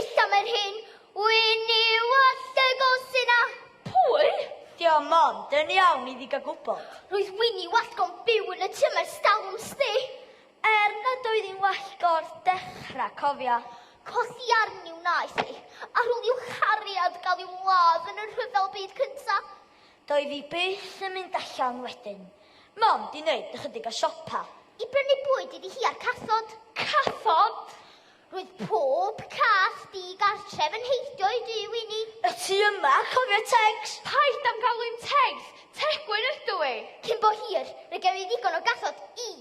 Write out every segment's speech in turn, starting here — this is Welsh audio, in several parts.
Issa mae'n hyn, wyn i wallt y gosin a. Pwy? Diom mond, dyn iawn iddi gael gwybod. Roedd wyn i wallt go'n byw yn y tŷ mae'r stalwm sti. Er nad oedd hi'n wallt go'r dechrau, cofia. Cosi arni wnaeth hi, ar ôl i'w chariad gael i'w ladd yn y rhyfel byd cynta. Doedd hi byth yn mynd allan wedyn, mond i wneud ychydig o siopa. I brynu bwyd iddi hi a'r cathod. Cathod? Roedd pob cath di-gartref yn heibio i Duw i ni. Y tu yma, cofia Tegs! Paid â'm galw i'n Tegs! Tegwyn ydw i! Cyn bo hir, fe gewn ni ddigon o gathod i...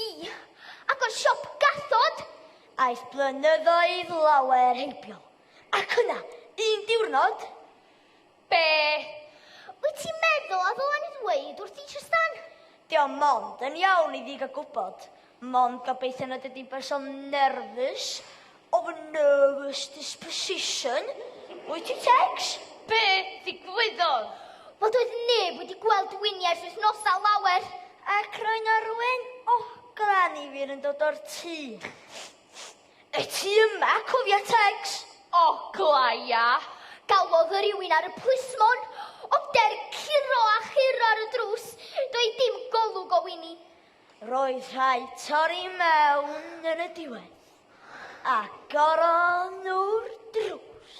i... agor siop gathod! Aeth blynyddoedd lawer heibio. Ac yna, un diwrnod, Be? Wyt ti'n meddwl a ddylen i ddweud wrth i Trystan? Dio o mond yn iawn i ddig a gwybod. Mond gobeithio nad ydy'n berson nerfus, of a nervous disposition. Wyt ti, Tex? Be ddigwyddodd? Wel, doedd neb wedi gweld Winnie ers wythnosau lawer. Ac roedd na rywun oglan i fi yn dod o'r tŷ. Y tu yma, cofia Tegs? O, glaia! Galwodd y rywun ar y plismon. Ond er curo a churo ar y drws, doedd dim golwg o Wini. Roedd rhai torri mewn yn y diwedd. Agorodd nhw'r drws.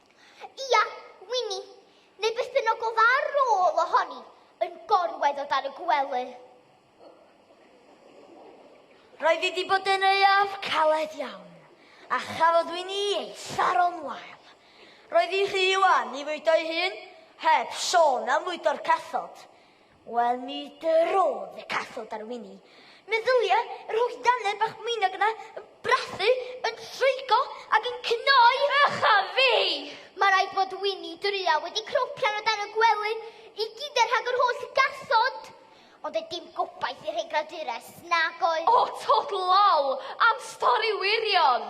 Ia, Winnie, neu beth bynnag oedd ar ôl ohoni, yn gorwedd o dan y gwely. Roedd wedi bod yn euaf caled iawn, a chafodd Wini ei tharo'n wael. Roedd hi rhy wan i fwydo'i hun, heb sôn am fwydo'r cathod. Wel, mi drodd y cathod ar Wini. Meddylia yr holl dannedd bach mwynog yna yn brathu, yn troigo ac yn cnoi. Ych a fi! Mae rhaid bod Wini druaw wedi cropian o dan y gwely i gyd er rhag yr holl gathod. Ond doedd dim gobaith i rhai gradures, nag oedd? O, tod law! Am stori wirion!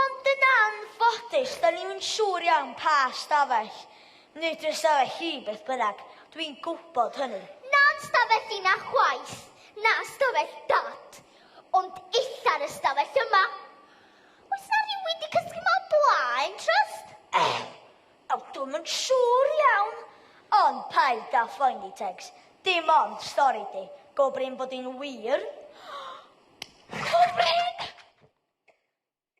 Ond yn anffodus, da ni'm yn siŵr iawn pa stafell neu drysawell hi, beth bynnag, dwi'n gwybod hynny. Na'n stafell i na chwaith, na stafell Dad, ond eitha'r ystafell yma. Oes 'na rywun 'di cysgu 'ma o blaen, Trust? Ew! Wel, dwi'm yn siŵr iawn, ond paid â phoeni, Tegs. Dim ond stori di. Go brin bod hi'n wir. Go brin!